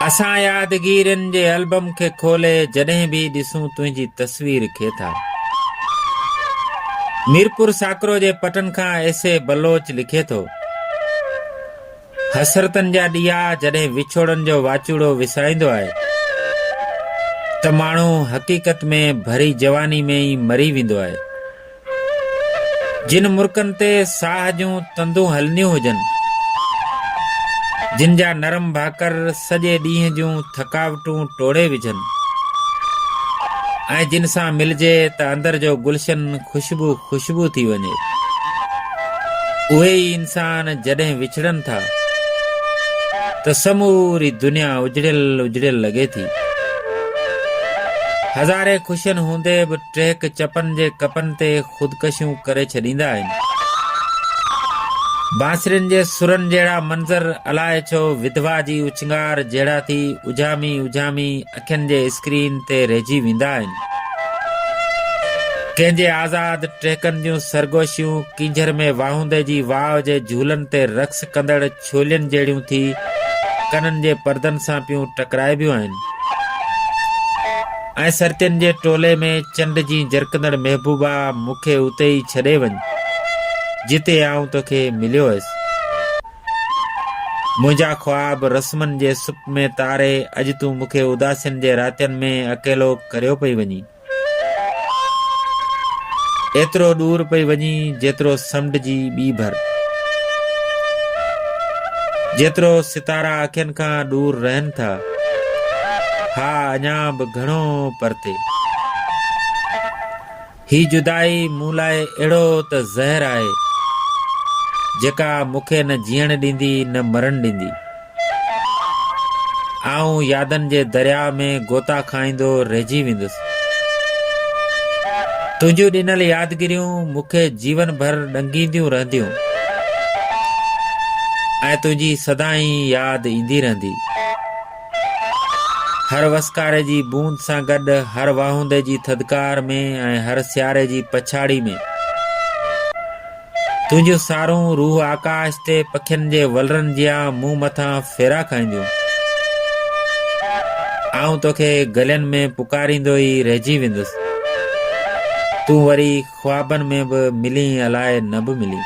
اسان يادگيرين جي البم کي کولي جڏهن به ڏسون تنهنجي تصوير کي ٿا. ميرپور ساڪرو جي پٽن کان ايس اي بلوچ لکي ٿو. حسرتن جا ڏيئا جڏهن وڇوڙن جو واچوڙو وسائيندو آهي ته ماڻهو حقيقت ۾ ڀري جواني ۾ ئي مري ويندو آهي. جن مرڪن تي ساهه جون تندون هلنديون هجن، جن جا نرم ڀاڪر سڄي ڏينهن جون ٿڪاوٽون ٽوڙي وجهن ۽ جن سان ملجي ته اندر جو گلشن خوشبو خوشبو ٿي وڃي. اهي ئي انسان جڏهن وڇڙن ٿا ته سموري دنيا اجڙيل اجڙيل لڳي ٿي. هزارين خوشين هوندي به ٽريڪ چپن جي ڪپن تي خودڪشيون ڪري ڇڏيندا آهن. بانسرين جي سرن جهڙا منظر الائي ڇو وڌوا جي اڇنگار جهڙا ٿي اجهامي اجهامي اکين جي اسڪرين تي رهجي ويندا آهن. ڪنهن جي آزاد ٽهڪن جون سرگوشيون ڪينجهر ۾ واهوندي جي واء جي جهولن تي رقص ڪندڙ ڇولين جهڙيون ٿي ڪنن جي پردن سان پيون ٽڪرائبيون آهن ۽ سرتين جي ٽولي ۾ چنڊ جي جرڪندڙ محبوبا مون کي اتي ئي ڇڏي وڃ جتي آئون توکي مليو هيس منهنجا خواب رسمن جي سپ ۾ تاري اڄ تون مون کي اداسين جي راتين ۾ اڪيلو ڪريو پئي وڃين ايترو ڏور پئي وڃي جيترو سمنڊ جي ٻي ڀر. جيترو ستارا اکين کان ڏور رهن ٿا. ها اڃا به گهڻو پرتي. هي جدائي مون لاء اهڙو ته زهر آهي جيڪا مون کي نه جيئڻ ڏيندي نه مرڻ ڏيندي. آئون يادن جي درياء ۾ غوطا کائيندو رهجي ويندس. تنهنجون ڏنل يادگيريون مون کي جيون ڀر ڏنگينديون رهنديون ۽ تنهنجي سدائين ياد ايندي رهندي. هر وسڪاري جي بوند سان گڏ، هر واهوندي جي ٿڌڪار ۾ ۽ هر سياري جي پڇاڙي ۾. تنهنجون سارون روح آڪاش تي پکين جي ولرن جيان مون مٿان ڦيرا کائينديون. آئون توکي گلين ۾ پڪاريندو ئي رهجي ويندس. تون وري خوابن ۾ به ملين الائي نه به ملين.